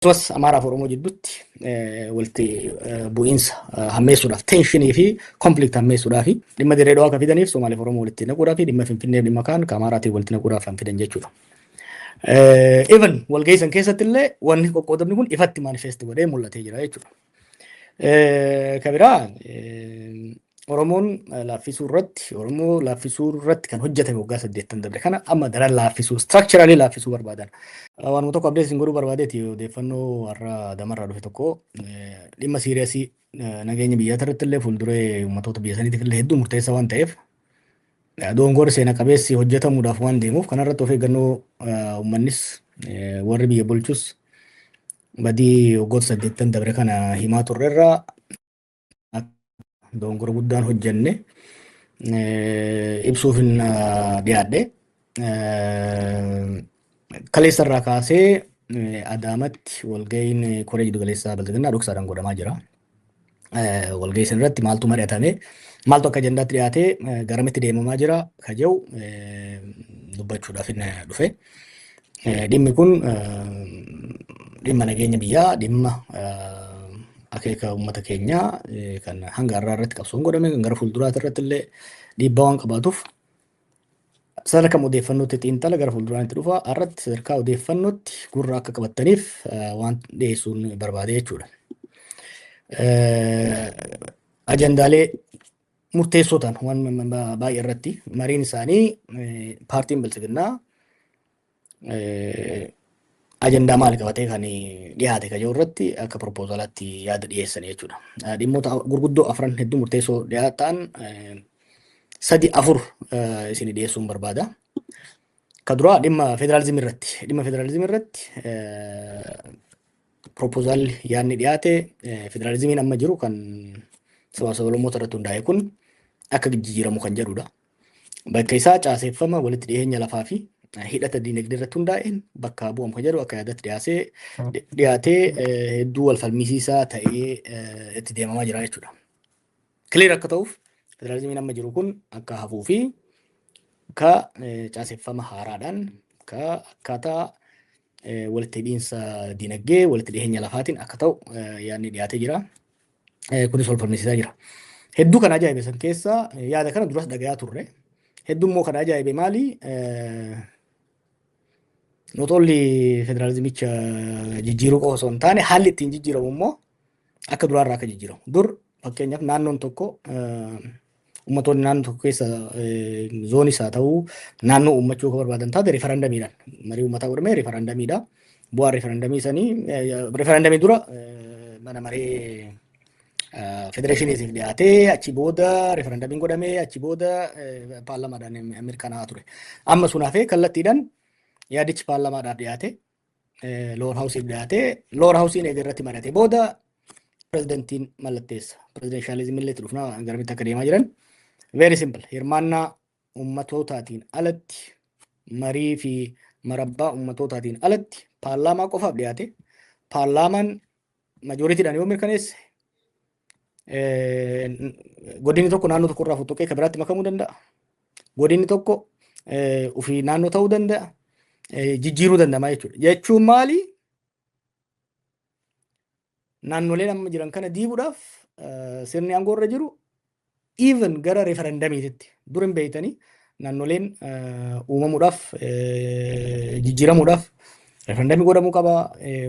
akkasumas Amaaraa fi Oromoo jidduutti walitti bu'iinsa hammeessuudhaaf teenshinii fi konflikt hammeessuudhaaf dhimma dirree dhawaa akka fidaniif Somaaliif Oromoo walitti naquudhaaf dhimma Finfinnee dhimma kaan ka Amaaraatiin walitti naquudhaaf kan fidan jechuudha. Even walgeessan keessatti illee wanni qoqqoodamni kun ifatti manifest godhee mul'atee jira jechuudha. Ka biraa Oromoon laaffisuu irratti Oromoo laaffisuu irratti kan hojjetame waggaa saddeettan dabre kana amma daran laaffisuu structurally laaffisuu barbaadan. Waanuma tokko abdees hin godhuu barbaadeeti odeeffannoo warra damarraa dhufe tokko dhimma siiriyasii nageenya biyyaa irratti illee fuulduree uummattoota biyya saniitiif illee hedduu murteessaa waan ta'eef doongoor seena qabeessi hojjetamuudhaaf waan deemuuf kanarratti of eeggannoo uummannis warri biyya bulchus Badii waggoota saddeettan dabre kana himaa turre irraa dogongora guddaan hojjenne ibsuuf hin dhiyaadhe. Kaleessa irraa kaasee Adaamatti walga'iin koree jiddugaleessaa Bilxiginnaa dhoksaadhaan godhamaa jira. walgahii san irratti maaltu mari'atame maaltu akka ajandaatti dhiyaatee garamitti deemamaa jira ka jedhu dubbachuudhaaf inni dhufe. Dhimmi kun dhimma nageenya biyyaa dhimma akeeka uummata keenyaa kan hanga har'aa irratti qabsoon godhame kan gara fuulduraati irratti illee dhiibbaa waan qabaatuuf Sadarkaa kam odeeffannootti xiinxala gara fuulduraan itti dhufa irratti sadarkaa odeeffannootti gurra akka qabattaniif waan dhiyeessuun barbaade jechuudha. Ajandaalee murteessoo ta'an waan baay'ee irratti mariin isaanii paartiin bilchiginnaa ajandaa maal qabatee kan dhiyaate kan jiru irratti akka propoozalaatti yaada dhiyeessan jechuudha. Dhimmoota gurguddoo afran hedduu murteessoo dhiyaatan sadi afur isin dhiyeessuun barbaada. Ka duraa dhimma federaalizimii irratti. Dhimma federaalizimii irratti propoozaalli yaadni dhiyaate federaalizimiin amma jiru kan saba sablammoota irratti hundaa'e kun akka jijjiiramu kan jedhudha. Bakka isaa caaseffama walitti dhiyeenya lafaa fi hidhata diinagdee irratti hundaa'een bakka bu'amu kan jedhu akka yaadatti dhiyaasee dhiyaatee hedduu wal falmisiisaa ta'ee itti deemamaa jira jechuudha. Kileer akka ta'uuf federaalizimiin amma jiru kun akka hafuu fi ka caaseffama haaraadhaan ka akkaataa walitti hidhiinsa dinagdee walitti dhiheenya lafaatiin akka ta'u yaadni dhiyaatee jira. Kunis wal falmisiisaa jira. Hedduu kan ajaa'ibe san keessaa yaada kana duras dhagayaa turre. Hedduu immoo kan ajaa'ibe maali? Not only federaalizimicha jijjiiruu qofa osoo hin taane haalli ittiin jijjiiramu immoo akka duraa irraa akka jijjiiramu. Dur fakkeenyaaf naannoon tokko ummatoonni naannoo tokko keessa zoonis haa ta'u naannoo uummachuu akka barbaadan taate rifarandamiidhaan marii uummataa godhamee rifarandamiidha. Bu'aa rifarandamii sanii rifarandamii dura mana maree federeeshiniitiif dhiyaatee achi booda rifarandamiin godhamee achi booda paarlamaadhaan mirkanaa'aa ture. Amma sun hafee kallattiidhaan yaadichi paarlamaadhaaf dhiyaate lower house'if dhiyaate. Lower house'n eega irratti mari'ate booda pirezidantiin mallatteessa. Pirezidanshaalizimii illee itti dhufna garamitti akka deemaa jiran. Very simple. Hirmaannaa ummatootaatiin alatti marii fi marabbaa ummatootaatiin alatti paarlaamaa qofaaf dhiyaate. Paarlaamaan majooritiidhaan yoo mirkaneesse Godinni tokko naannoo tokko irraa foxxoqee kan biraatti makamuu danda'a. Godinni tokko ofii naannoo ta'uu danda'a. Jijjiiruu danda'ama jechuudha. Jechuun maali? Naannoleen amma jiran kana diiguudhaaf sirni aangoo irra jiru even gara referendamiititti dur hin beeytanii naannoleen uumamuudhaaf jijjiiramuudhaaf referendamii godhamuu qaba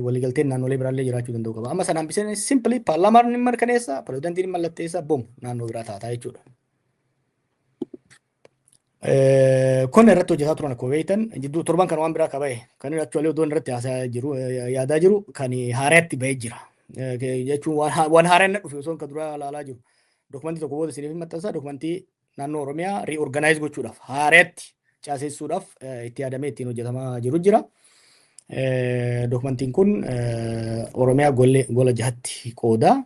waliigalteen naannolee biraallee jiraachuu danda'u qaba amma sanaan biseen simpilii paarlaamaan ni mirkaneessa pirezidantiin mallatteessa bom naannoo biraa taataa jechuudha. Kun irratti hojjetaa turan akkuma beektan jidduu torban kan waan biraa akka bahe kan inni actually odoon irratti haasaa jiru yaadaa jiru kan haaraatti bahee jira. Jechuun waan haaraa inni dhufe osoo kan duraa ilaalaa jiru. Dokumentii tokko booda isiniif maxxansa dokumentii naannoo Oromiyaa reorganize gochuudhaaf haaraatti caasessuudhaaf itti yaadamee ittiin hojjetamaa jiru jira. Dokumentiin kun Oromiyaa gola jahatti qooda.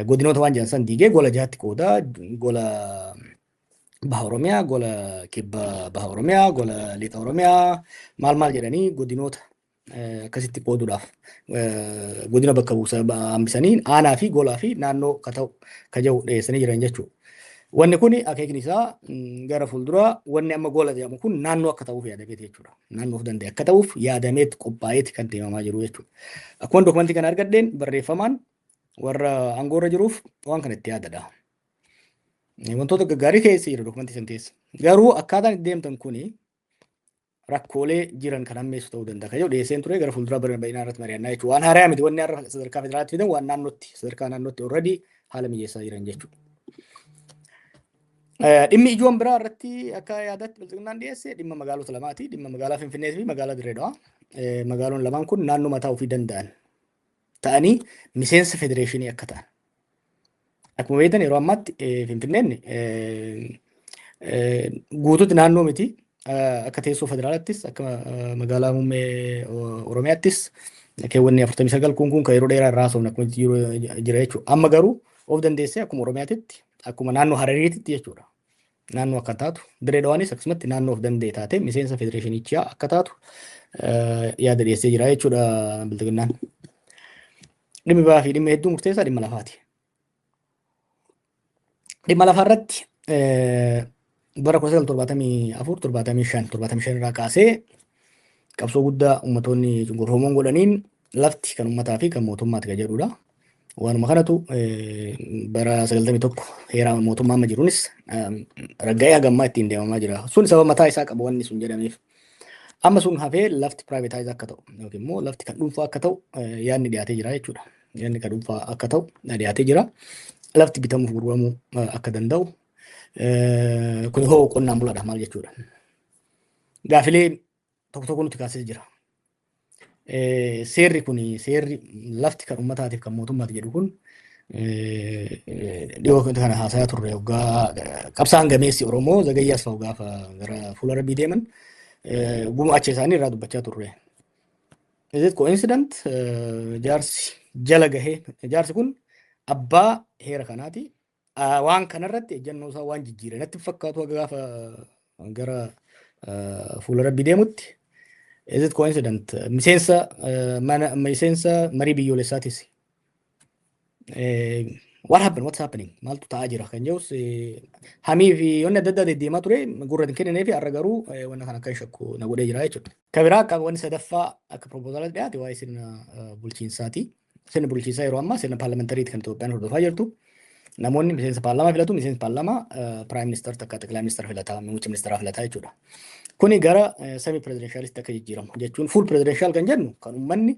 Godinoota waan jedhan san diigee gola jahatti qooda. Gola Baha Oromiyaa, gola kibba Baha Oromiyaa, gola Lixa Oromiyaa maal maal jedhanii godinoota eh, akkasitti qooduudhaaf eh, godina bakka buusa ba- hambisanii aanaa fi golaa fi naannoo ka ta'u ka jiru dhiyeessanii jiran jechuudha. Wanni kun akeekni isaa mm, gara fuulduraa wanni amma gola jedhamu kun naannoo akka ta'uuf yaadameet jechuudha. Naannoo of danda'e akka ta'uuf yaadameet qophaa'eet kan deemamaa jiru jechuudha. Akkuma dokumentii kana argadheen barreeffamaan warra aangoorra jiruuf waan kana itti yaadadha. Wantoota gaggaarii keessa jira dokumentii san keessa. Garuu akkaataan itti deemtan kuni rakkoolee jiran kan hammeessu ta'uu danda'a. Kayyoo dhiyeesseen ture gara fuulduraa bara baay'inaa irratti mari'annaa jechuudha. Waan haaraa miti wanni har'a sadarkaa federaalaatti fidan waan naannootti sadarkaa naannootti already haala mijeessaa jiran jechuudha. Dhimmi ijoon biraa irratti akka yaadaatti bilxiginnaan dhiyeesse dhimma magaalota lamaati. Dhimma magaalaa Finfinnee fi magaalaa Dirree Dawaa. Magaaloon lamaan kun naannoo mataa ofii danda'an ta'anii miseensa federeeshinii akka ta'an. Akkuma beektan yeroo ammaatti Finfinneen guutuutti naannoo miti. Akka teessoo federaalaattis akka magaalaa muummee Oromiyaattis keewwanni 49 kun kun kan yeroo dheeraa irraa haasofna akkuma jira jechuudha. Amma garuu of dandeessee akkuma Oromiyaatitti akkuma naannoo Harariititti jechuudha. naannoo akka taatu, Dirree Dhawaanis akkasumatti naannoo of danda'e taatee miseensa federeeshinichaa akka taatu yaada dhiyeessee jira jechuudha bilxiginnaan. Dhimmi ba'aa fi dhimmi hedduu murteessaa dhimma lafaati. Dhimma lafaa irratti bara 1974-75 irraa kaasee qabsoo guddaa uummattoonni cunqurfamoon godhaniin Lafti kan ummataa fi kan mootummaati kan jedhudha. Waanuma kanatu bara 91 heeraa mootummaa amma jiruunis ragga'ee hagammaa ittiin deemamaa jira. Sun sababa mataa isaa qaba wanni sun jedhameef. Amma sun hafee lafti privatize akka ta'u yookiin immoo lafti kan dhuunfaa akka ta'u yaadni dhiyaatee jira jechuudha. Yaadni kan dhuunfaa akka ta'u dhiyaatee jira. Lafti bitamuuf gurguramuu akka danda'u kun hoo qonnaan bulaadha maal jechuudha. Gaafilee tokko tokko nuti kaasee jira. Seerri kun seerri lafti kan uummataatiif kan mootummaati jedhu kun dhiyoo kana haasayaa turre hoggaa qabsaan gameessi Oromoo zagayyaa asfa'u gaafa gara fuula rabbii deeman gumaacha isaanii irraa dubbachaa turre. Is it coincident jaarsi jala gahee jaarsi kun abbaa heera kanaati Waan kanarratti ejjannoo isaa waan jijjiire natti fakkaatu haga gaafa gara fuula rabbi deemutti. Is it coincident? Miseensa mana miseensa marii biyyoolessaatis. What happened? What's happening? Maaltu ta'aa jira kan jedhus hamii fi wanni adda addaa deddeemaa ture gurra hin kenninee fi har'a garuu wanna kana akka shakku na godhee jira jechuudha. Ka biraa akka wanni sadaffaa akka proposaalatti dhiyaate waa'ee sirna bulchiinsaati. sirna bulchiinsaa yeroo ammaa sirna paarlamentariiti kan Itoophiyaan hordofaa jirtu. Namoonni miseensa paarlamaa filatu, miseensi paarlamaa piraayim ministar takka xiqilaa ministar filataa, muummicha ministaraa filataa jechuudha. Kuni gara semi pirezidenshaalist akka jijjiiramu jechuun fuul pirezidenshal kan jennu kan uummanni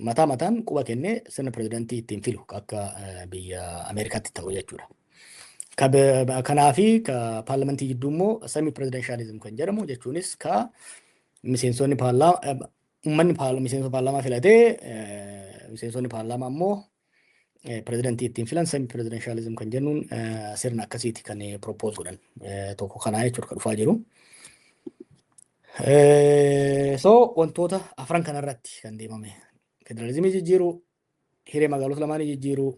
mataa mataan quba kennee sirna pirezidantii ittiin filu akka biyya Ameerikaatti ta'u jechuudha. Kanaafi paarlamentii jidduu immoo semi pirezidenshalizim kan jedhamu jechuunis ka miseensonni paarlaamaa Uummanni paarla- miseensa paarlaamaa filatee eh, miseensonni paarlaamaa immoo eh, pirezidantii ittiin filan semi pirezidanshaalizim kan jennuun eh, sirna akkasiiti kan propose godhan Eh, tokko kanaa jechuudha kan dhufaa jiru. Eh, So wantoota afran kanarratti kan deemame federaalizimii jijjiiruu, hiree magaalota lamaanii jijjiiruu,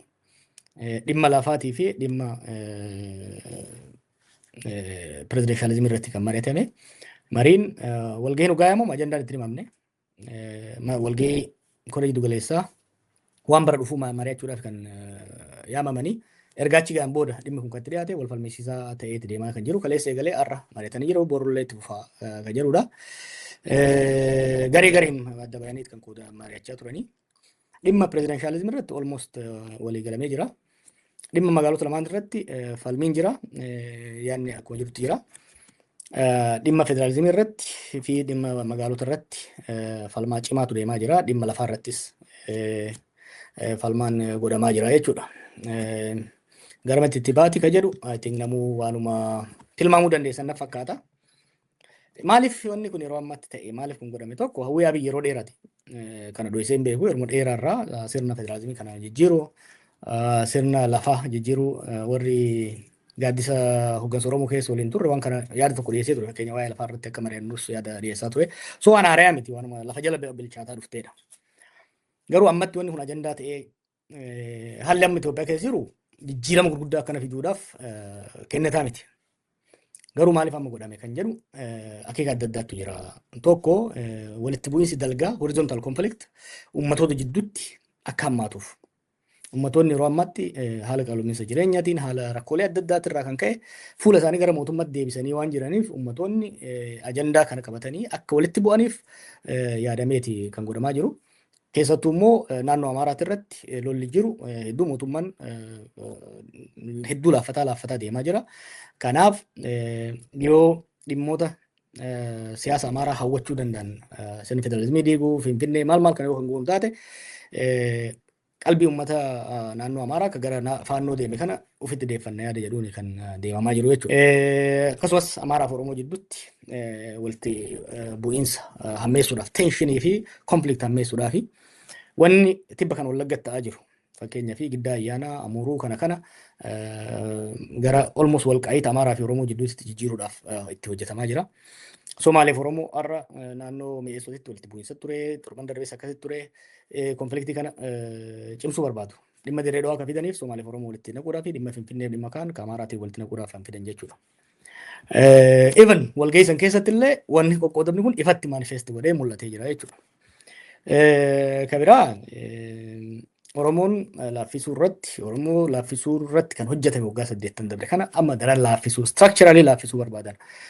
dhimma lafaatii fi dhimma pirezidenshalizimii irratti kan mari'atame. Mariin walgahiin dhugaa yaamamu ajandaan itti himamne. Walgahii koree jiddu galeessaa waan bara dhufuu mari'achuudhaaf kan yaamamanii ergaachi ga'an booda dhimmi kun kan itti dhiyaate wal falmisiisaa ta'ee itti deemaa kan jiru kaleessa eegalee har'a mari'atanii jiru borullee itti fufaa kan jedhudha. Garee gareen adda bayaniit kan qooda mari'achaa turanii. Dhimma pirezidanshaalizimii irratti almost walii galamee jira. Dhimma magaalota lamaan irratti falmiin jira. Yaadni akkuma jirutti jira. Dhimma federaalizimii irratti fi dhimma magaalota irratti falmaa cimaatu deemaa jira. Dhimma lafaa irrattis falmaan godhamaa jira jechuudha. Garamitti itti baati ka jedhu I think namuu waanuma tilmaamuu dandeessan na fakkaata. Maaliif wanni kun yeroo ammaatti ta'e maaliif kun godhame tokko hawwii abiy yeroo dheerate kana dho'isee hin beeku yeroo dheeraarraa sirna federaalizimii kana jijjiiru sirna lafaa jijjiiru warri gaaddisa hoggansa Oromoo keessa waliin turre waan kana yaada tokko dhiyeessee ture fakkeenya waa'ee lafaa irratti akka mari'annus yaada dhiyeessaa ture so waan haarayaa miti waanuma lafa jala bilchaataa dhufteedha. Garuu ammatti wanni kun ajandaa ta'ee Eh, Haalli amma Itoophiyaa keessa jiru jijjiirama gurguddaa akkana fiduudhaaf eh, kennataa miti. Garuu maaliif amma godhame kan jedhu eh, akeeka adda addaatu jira. Tokko eh, walitti bu'iinsi dalgaa horizontal conflict uummatoota jidduutti akka hammaatuuf. Uummattoonni yeroo ammaatti eh, haala qaala'iinsa jireenyaatiin haala rakkoolee adda addaatiin irraa kan ka'e fuula isaanii gara mootummaatti deebisanii waan jiraniif uummattoonni eh, ajandaa kana qabatanii akka walitti bu'aniif eh, yaadameeti kan godhamaa jiru. Keessattuu immoo naannoo Amaaraati irratti lolli jiru hedduu mootummaan hedduu laaffataa laaffataa deemaa jira. Kanaaf yoo dhimmoota siyaasa Amaaraa hawwachuu danda'an sirni federaalizimii diiguu, Finfinnee maal maal kana yoo kan goonu taate qalbii uummata naannoo Amaaraa akka gara faannoo deeme kana ofitti deeffanna yaada jedhuun kan deemamaa jiru jechuudha. Akkasumas Amaaraa fi Oromoo jidduutti walitti bu'iinsa hammeessuudhaaf teenshinii fi konflikt hammeessuudhaaf wanni tibba kan wallaggatti ta'aa jiru fakkeenyaa fi giddaa ayyaanaa amuruu kana kana gara olmos walqaa'iita Amaaraa fi Oromoo jidduutti jijjiiruudhaaf itti hojjetamaa jira. Somaaleef Oromoo har'a naannoo mi'eessootitti walitti bu'iinsa ture, torban darbees akkasitti ture, konfliktii kana cimsuu barbaadu. Dhimma Dirree Dhawaa kan fidaniif Somaaleef Oromoo walitti naquudhaa fi dhimma Finfinneef dhimma kaan ka Amaaraatiin walitti naquudhaaf kan fidan jechuudha. Even walgahii san keessatti illee wanni qoqqoodamni kun ifatti manifest godhee mul'atee jira jechuudha. Ka biraa Oromoon laaffisuu irratti Oromoo laaffisuu irratti kan hojjetame waggaa saddeettan dabre kana amma daran laaffisuu structurally laaffisuu barbaadan.